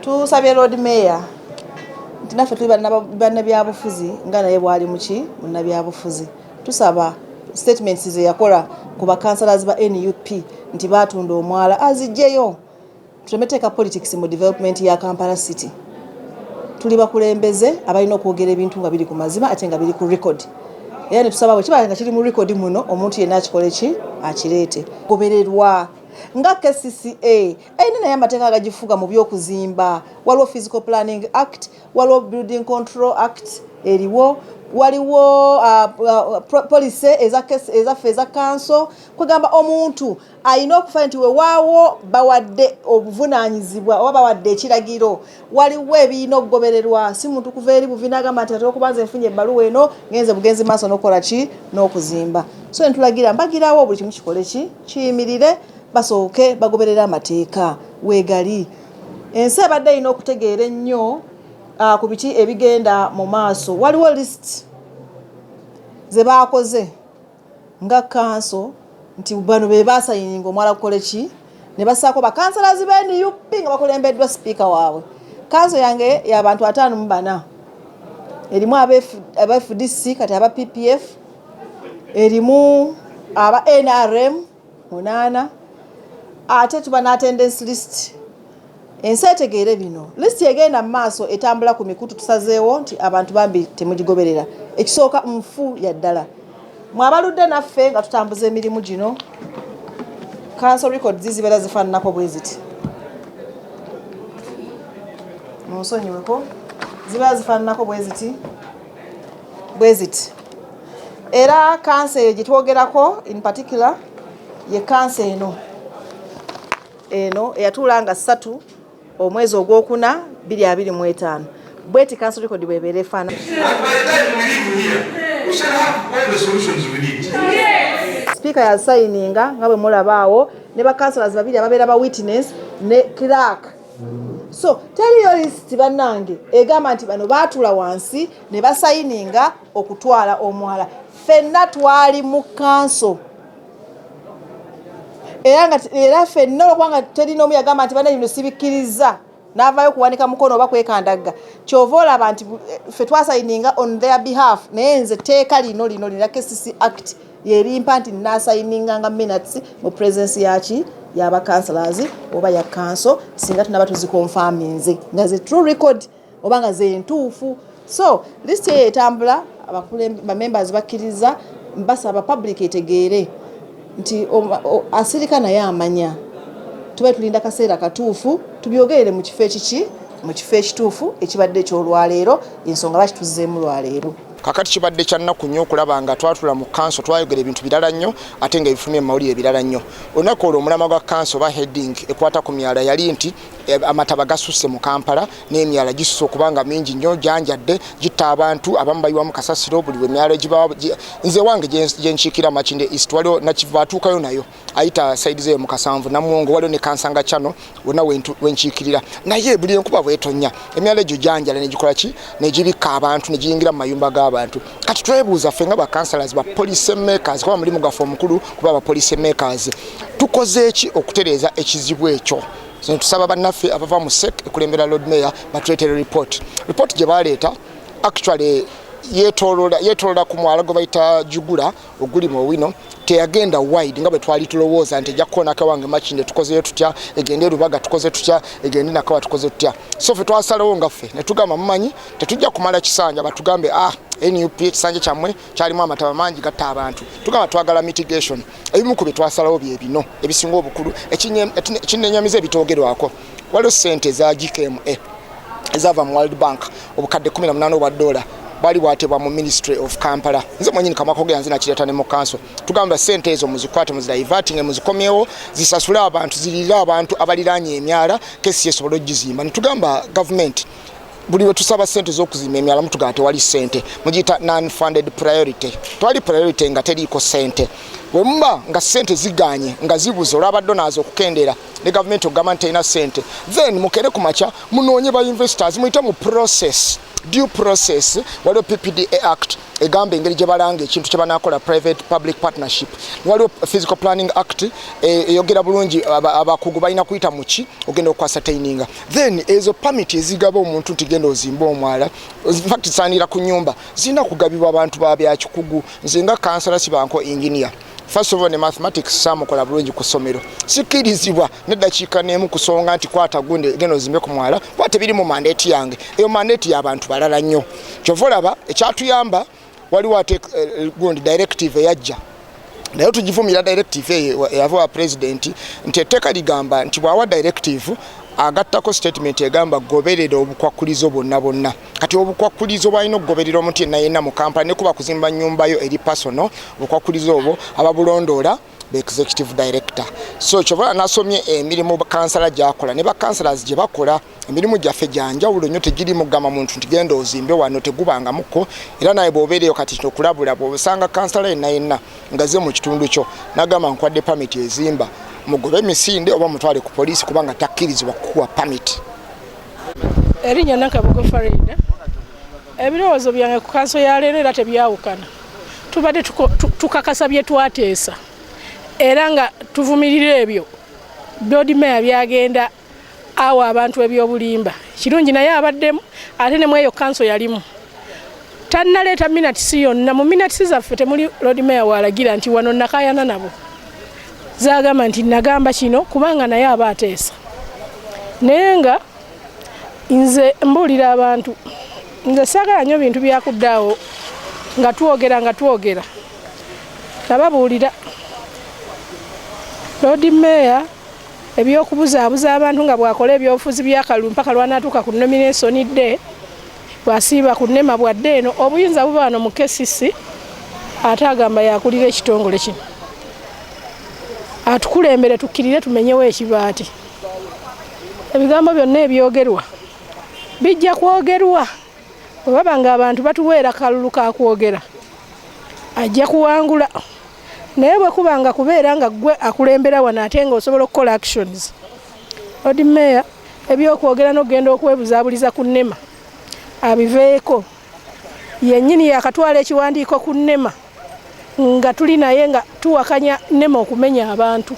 tusabye lord mayor nti naffe tuli bannabyabufuzi nga naye bwali muki munnabyabufuzi tusaba statements ze yakola ku bakansalazi ba nup nti batunda omwala azijjeyo tulemeteeka politics mu development ya kampala city tuli bakulembeze abalina okwogera ebintu nga biri ku mazima ate nga biri ku record era ne tusaba bwe kiba nga kiri mu rekodi muno omuntu yenna akikole ki akireete gobererwa nga kcca erina naye amateeka agagifuga mu by'okuzimba waliwo physical planning act waliwo building control act eriwo waliwo uh, uh, policy ezaffe eza kanso kwegamba omuntu alina okufa nti wewaawo bawadde obuvunaanyizibwa oba bawadde ekiragiro waliwo ebirina okugobererwa si muntu kuva eri buvina agamba nti ate okuba nze nfunye ebbaluwa eno ngenze bugenzi maaso n'okukola ki n'okuzimba so ntulagira mbagirawo buli kimu kikole ki kiyimirire basooke bagoberere amateeka weegali ensi ebadde erina okutegeera ennyo ah, ku biki ebigenda mu maaso waliwo lisiti ze baakoze nga kkanso nti bano be baasayininga omwala gukole ki ne bassaako bakansalazi ba nup nga bakulembeddwa sipiika waabwe kanso yange y'abantu ataano mu bana erimu aba fdc kati aba ppf erimu aba nrm munaana ate tuba n'attendance list ensi etegeere bino lisiti egenda mu maaso etambula ku mikutu tusazeewo nti abantu bambi temugigoberera ekisooka nfu ya ddala mwe abaludde naffe nga tutambuza emirimu gino kanso record zizibeera zifaananako bwe ziti munsonyiweko zibeera zifaananako bwe ziti bweziti era kansa eyo gyetwogerako in particular ye kansa eno eno eyatuula nga ssatu omwezi ogwokuna 225 bweti kansa rekodi bwebeera efaana sipiika yasayininga nga bwe mulabaawo ne bakansalazi babiri ababeera ba witness ne clark so teriyo lisiti bannange egamba nti bano baatula wansi ne basayininga okutwala omwala fenna twali mu kanso era nga era fenna olwokubanga teri n'omu yagamba nti bana bino sibikkirizza n'avaayo kuwanika mukono oba kwekandagga kyova olaba nti eh, fe twasayininga on their behalf naye nze tteeka lino lino lina kcc act yerimpa nti nasayininganga minutes mu presence yaki yaba councilors oba ya kanso singa tunaba tuzikonfaminze nga ze true record oba nga ze ntuufu so list eyo etambula bamembers bakkiriza basaba public etegeere nti asirika naye amanya tuba tulinda kaseera katuufu tubyogerere mu kifo ekiki mu kifo ekituufu ekibadde ekyolwaleero ensonga lwaki tuzzeemu lwaleero kakati kibadde kya nnaku nnyo okulaba nga twatula mu kanso twayogera ebintu birala nnyo ate nga ebifumye mu mawulire birala nnyo olunaku olwo omulama gwa kanso oba heading ekwata ku myala yali nti eh, amataba gasusse mu kampala n'emyala gisusse okuba nga mingi nnyo gyanjadde gitta abantu abamu bayiwamu kasasiro buli lwe myala egibawa nze wange gyenkiikira makinde east waliwo nakiva atuukayo nayo ayita saidi zeyo mukasanvu namuwongo waliwo ne kansanga chano wona wenkiikirira naye buli enkuba bwetonya emyala egyo janjala negikola ki negibikka abantu negiyingira mu mayumba g'abantu kati twebuuza ffe nga bakansalas ba police makers kuba mulimu gaffe omukulu kuba ba police makers tukoze ki okutereeza ekizibu ekyo tusaba bannaffe abava mu sek ekulembera lord mayor batuletere report report gye baleeta actually yetolola ku mwala gwe bayita jugula oguli mu owino teyagenda wide nga bwe twali tulowooza nti ejja kukoona kawange makinde tukozeyo tutya egende erubaga tukoze tutya egende nakawa tukoze tutya so fe twasalawo nga ffe ne tugamba mumanyi tetujja kumala kisanja batugambe ah nup ekisanja kyammwe kyalimu amataba mangi gatta abantu tugamba twagala mitigation ebimu ku bye twasalawo bye bino ebisinga obukulu ekinenyamiza ebitoogerwako waliwo sente eza gkma ezava mu world bank obukadde 18 obwa dola bali bwatebwa mu ministry of kampala nze mwenyini kamakogera nze nakireta ne mu kanso tugamba sente ezo muzikwate muzidivatinge muzikomyewo zisasule abantu zirire abantu abaliranye emyala kesi yesobola okugizimba netugamba gavumenti buli wetusaba sente zokuzimba emyala mutugamba tewali sente mugiyita non funded priority twali priority nga teriiko sente wemuba nga sente ziganye nga zibuze olwabaddo nazo okukendera ne gavumenti okugamba nti terina sente then mukere ku makya munoonye ba investors muyite mu process due process waliwo ppda act egamba engeri gye balanga ekintu kye banakola private public partnership waliwo physical planning act e, eyogera bulungi abakugu balina kuyita muki ogenda okukwasataininga then ezo permit ezigaba omuntu nti genda ozimba omwala infact zisaanira ku nyumba zirina kugabibwa abantu babyakikugu nze nga kansala sibanko engineer First of all, ne mathematics saamukola bulungi ku ssomero sikkirizibwa neddakiika n'emu kusonga nti kwata gunde genda ozimbe ku mwala kuba tebiri mu mandeeti yange eyo mandeeti y'abantu balala nnyo kyova olaba ekyatuyamba waliwo ate eh, gundi directive eyajja naye tugivumira directive eyo eyava wa pulezidenti nti etteeka ligamba nti bw'awa directive agattako sitatimenti egamba goberera obukwakkulizo bwonna bwonna kati obukwakkulizo bwalina okugoberera omuntu yenna yenna mu kampala nekuba kuzimba nyumba yo eri pasono obukwakkulizo obwo ababulondoola be executive director so kyova nasomye emirimu kansala gyakola ne bakansalas gye bakola emirimu gyaffe gyanjawulo nnyo tegiri mugamba muntu nti genda ozimbe wano tegubangamuko era naye bwobeereyo kati okulabula bwosanga kansala yenna yenna ngaze mu kitundu kyo nagamba nkwadde pamiti ezimba mugobe emisinde oba mutwale ku poliisi kubanga takkirizibwa kukuwa pamiti erinnya nakabugo farida ebirowoozo byange ku kanso ya leero era tebyawukana tubadde tukakasa bye twateesa era nga tuvumirira ebyo board mayor byagenda awo abantu ebyobulimba kirungi naye abaddemu ate ne mweyo kanso yalimu tannaleeta minatisi yonna mu minatisi zaffe temuli lodimeya waalagira nti wano nakayana nabo zagamba nti nagamba kino kubanga naye aba ateesa naye nga nze mbuulira abantu nze saagala nnyo bintu byakuddaawo nga twogera nga twogera nababuulira loodi meeya ebyokubuzaabuza abantu nga bwakola ebyobufuzi byakalulu mpaka lwanaatuuka ku nomination dde Bw'asiiba ku nema bw'adda eno obuyinza buba wano mu KCC ate agamba yakulira ekitongole kino atukulembere tukkirire tumenyewo ekibaati ebigambo byonna ebyogerwa bijja kwogerwa bwe baba ng'abantu batuweera kalulu ka kwogera ajja kuwangula naye bwe kuba nga kubeera nga ggwe akulembera wano ate nga osobola okukola actions Lord Mayor ebyokwogera nokugenda okwebuzabuliza ku nema abiveeko yenyini yakatwala ekiwandiiko ku nema nga tuli naye nga tuwakanya nema okumenya abantu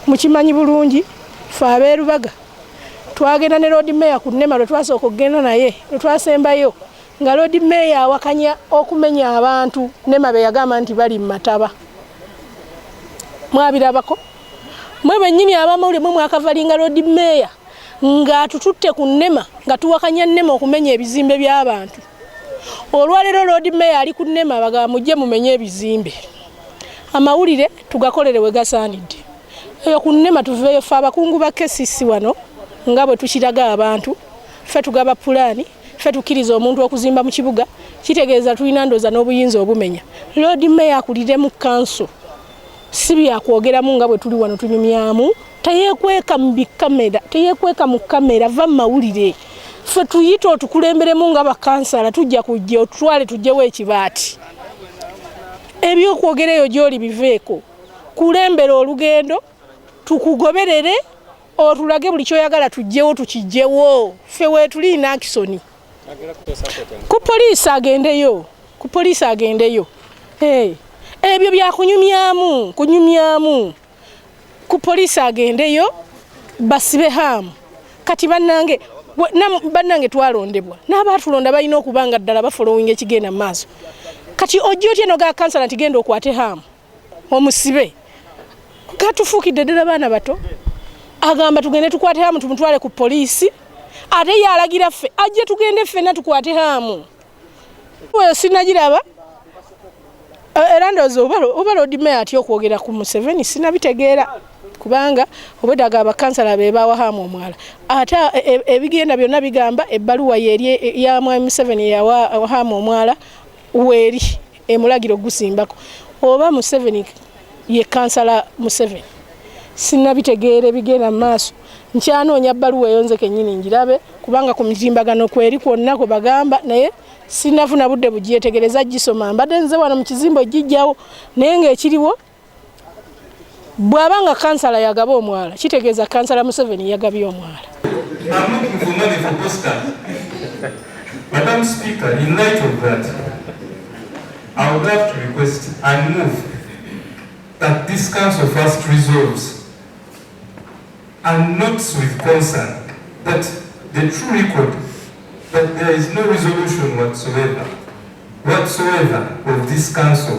mukimanyi bulungi fe aberubaga twagenda ne Lord Mayor ku nema lwetwasooka okugenda naye lwetwasembayo nga Lord Mayor awakanya okumenya abantu nema beyagamba nti bali mumataba mwabirabako mwe bennyini abamawulire mwe mwakavalinga lodi meeya ng'atututte ku nnema nga tuwakanya nnema okumenya ebizimbe by'abantu olwaleero lodi meeya ali ku nnema bagaba mujje mumenye ebizimbe amawulire tugakolere we gasaanidde eyo ku nnema tuveeyo fe abakungu ba kesisi wano nga bwe tukiraga abantu fe tugaba pulaani fe tukkiriza omuntu okuzimba mu kibuga kitegeeza tulina ndooza n'obuyinza obumenya lodi meeya akuliremu kanso si byakwogeramu nga bwe tuli wano tunyumyamu teyekweka mu bikamera teyekweka mu kamera va mu mawulire ffe tuyita otukulemberemu nga bakansala tujja kujja otutwale tujjewo ekibaati ebyokwogera eyo gyoli biveeko kulembera olugendo tukugoberere otulage buli kyoyagala tujjewo tukijjewo ffe weetuli nakisoni ku poliisi agendeyo ku poliisi agendeyo hey. ebyo byakunyumyamu kunyumyamu ku poliisi agendeyo basibe haamu kati bannange bannange twalondebwa n'abaatulonda balina okuba nga ddala bafolowinga ekigenda mu maaso kati ojja otya noga kansala nti genda okwate haamu omusibe katufuukidde ddala baana bato agamba tugende tukwate hamu tumutwale ku poliisi ate yalagira ffe ajje tugende ffena tukwate hamu oyo sinagiraba eh, era ndowooza oba lodimaya atya okwogera ku museveni sinabitegeera kubanga obwedaga abakansala be bawa hamu omwala ate e, e, ebigenda byonna bigamba ebbaluwa yeri ya mwami museveni yawa hamu omwala weeri emulagiro gusimbako oba museveni ye kansala museveni sinabitegeera ebigenda mu maaso nkyanoonya bbaluwa eyo nze kennyini ngirabe kubanga ku mitimbagano kweri kwonna kwe bagamba naye sinafuna budde bugyetegereza gisoma mbadde nze wano mu kizimbo gijjawo naye ngaekiriwo bw'aba nga kansala yagaba omwala kitegeeza kansala museveni yagabye omwala whatsoever of this council